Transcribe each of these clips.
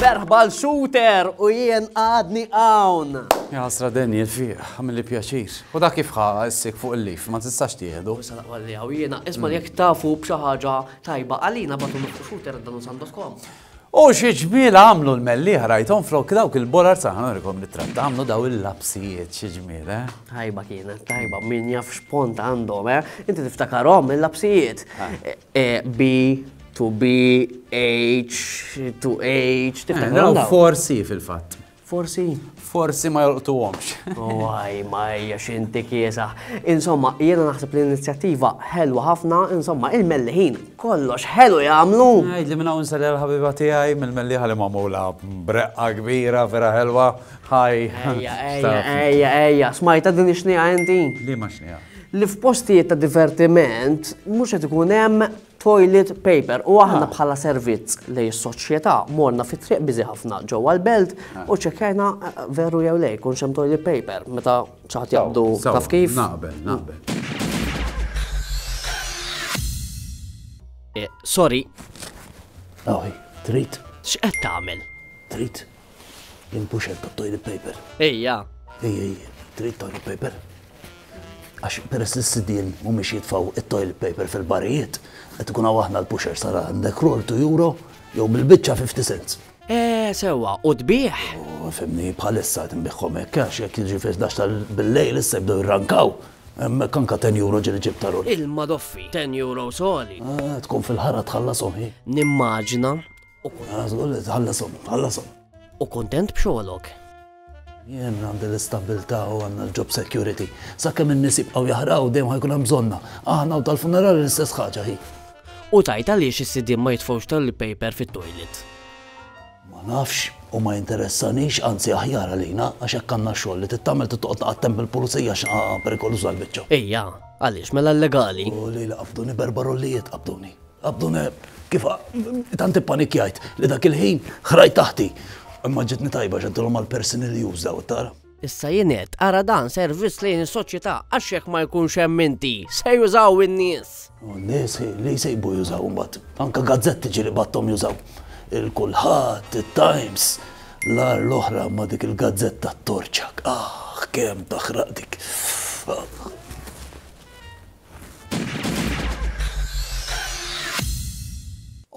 Berħbal shooter u jien għadni għawn. Jasra den jilfiq, għamil li pjaċir. U da kif ħa issik fuq il-lif, ma tistax tieħdu. Issa naqwa li għaw jiena, isma jek tafu bxaħġa tajba għalina batu nofsu shooter dan u sandos kom. O xi ġmiel għamlu l-mellieħa rajthom flok dawk il-borar saħan nurikom ritratt għamlu daw il-lapsijiet xi ġmiel eh. Tajba kienet tajba min jaf x'pont għandhom eh. Inti tiftakarhom il-lapsijiet. B to B H to H tiftakarhom. Forsi fil-fatt. Forsi? Forsi ma jolqtuhomx. Waj, ma hija xinti kiesaħ. Insomma, jiena naħseb l-inizjattiva ħelwa ħafna, insomma, il-melliħin kollox ħelu jagħmlu. Ngħid li minn hawn sali l-ħabiba tiegħi mill-melliħa li magħmula breqqa kbira vera ħelwa. Ħaj. Ejja, ejja, ejja, smajta din ix-xnieqa inti? Li ma xnieqa? Li f'postijiet ta' divertiment mhux qed ikun hemm toilet paper. U aħna ah. bħala servizz li s-soċjetà morna fit triq biżi ħafna ġewwa l-belt ah. u ċekkajna eh, eh, veru jew lej kun xem toilet paper meta ċaħat jaqdu taf kif. Naqbel, naqbel. Eh, sorry. Awi, trit. X'qed tagħmel? Trit. Jien puxer ta' toilet paper. Ejja. Ejja, ejja. Trid toilet paper? Għax peress li s-sidien mhumiex jitfaw it-toilet paper fil-barijiet, qed ikun hawn aħna l-puxer sara għandek roll tu euro jew bil-biċċa 50 cents. Eh, sewwa, u tbieħ? U fimni bħalissa qed inbiħħom hekk għax jekk jiġi fis dax tal-billejl issa jibdew jirrankaw. Hemmhekk anka 10 euro ġieli ġib ta' roll. Il-madoffi, 10 euro soli. Ah, tkun fil-ħara tħallas oħi. Nimmaġna U kuntent b'xogħolok. Jien għandi l-istabbiltà u għandna l-job security. Sakemm in-nies jibqgħu jaħraw dejjem ħajkun hemm bżonna. Aħna u tal-funerali l-istess ħaġa hi. U tgħid għaliex is-sidien ma jitfgħux toilet paper fit-toilet? Ma nafx u ma jinteressanix, anzi aħjar għalina, għax hekk għandna x-xogħol li titgħamel trid toqgħod taqgħad temp il-pulizija għax perikoluża l-biċċa. Ejja, għaliex mela l-legali? U li li qabduni b'erba' rollijiet qabduni. Abdun kif tant ippanikjajt li dak il-ħin ħrajt taħti. Imma ġitni tajba x'għedtilhom għall-personal use daw, tara. Issa jien għedt, ara dan servizz lejn is-soċjetà għax jekk ma jkunx hemm inti, se jużaw in-nies. U n-nies li jsejbu jużaw imbagħad. Anke gazzetti ġieli bgħatthom jużaw. Il-Kulħadd, it-Times, l-agħar l-oħra ma' dik il-gazzetta t-torċak. Aħ, kemm taħraq dik.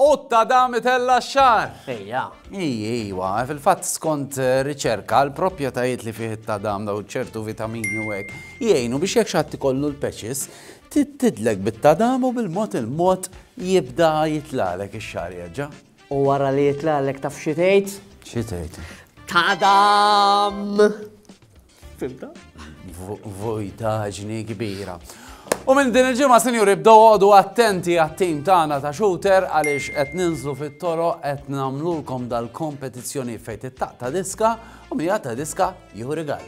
Qutta dam itella x-xar. Ejja. Iji, ijwa, fil-fatt skont eh, riċerka, l-proprjetajiet li fih it-tadam daw ċertu vitamini u hekk jgħinu biex jekk xatt ikollu l-peċis tidlek bit-tadam u bil-mod il-mod jibda jitlalek ix-xar jaġġa. U wara li jitlalek taf xi tgħid? Xi tgħid? Tadam! Fimta? Vojtaġni kbira. U minn din il-ġimgħa sinjuri bdew għodu attenti għat-tim tagħna ta' shooter għaliex qed ninżlu fit-toro qed nagħmlulkom dal-kompetizzjoni fejn tittaq ta' diska u mija ta' diska jieħu rigal.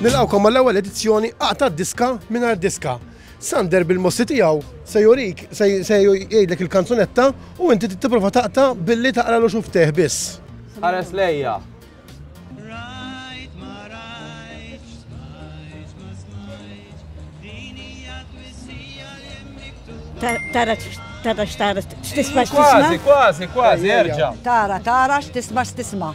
Nilqawkom mal-ewwel edizzjoni qata' diska mingħajr diska. Sander bil-mossi tiegħu se jurik, se jgħidlek il-kanzunetta u inti tipprova taqta' billi taqralu xuftejh biss. Ħares lejja. Tara tara x'tara x'tisma' x'tisma'. Kważi, kważi, kważi, erġa'. Tara tara x'tisma' x'tisma'.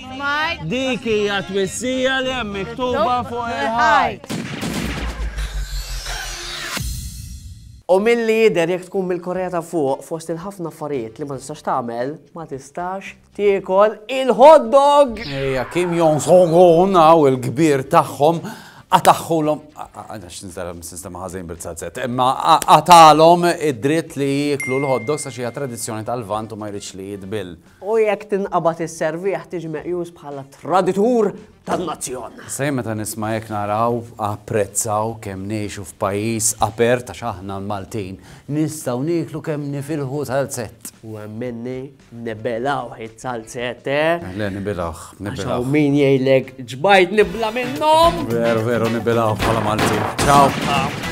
Dik hija twissija li hemm miktuba fuq il-ħajt. U milli jidher jekk tkun mill-Korea ta' Fuq, fost il-ħafna affarijiet li ma tistax tagħmel, ma tistax tiekol il-hot dog! Ejja, Kim Jong Songun hawn il-kbir tagħhom qataħħulhom għax nistara sistema ħażin bil-sazzet, imma qatalhom id-dritt li jieklu l-hot dogs għax hija tradizzjoni tal-vant u ma jridx li jitbill. U jekk tinqabad is-serviegħ tiġi meqjus bħala traditur tan-nazzjon. Sa jien meta nisma' hekk naraw, apprezzaw kemm ngħixu f'pajjiż apert għax aħna l-Maltin nistgħu nieklu kemm nifilħu salzett. U hemm minni nibilgħuh iz-zalzett, eh? Le, nibilgħuh, nibilgħuh. Għax hawn min jgħidlek ġbajt nibla' minnhom! Veru, veru, nibilgħuh bħala Maltin. Ċaw!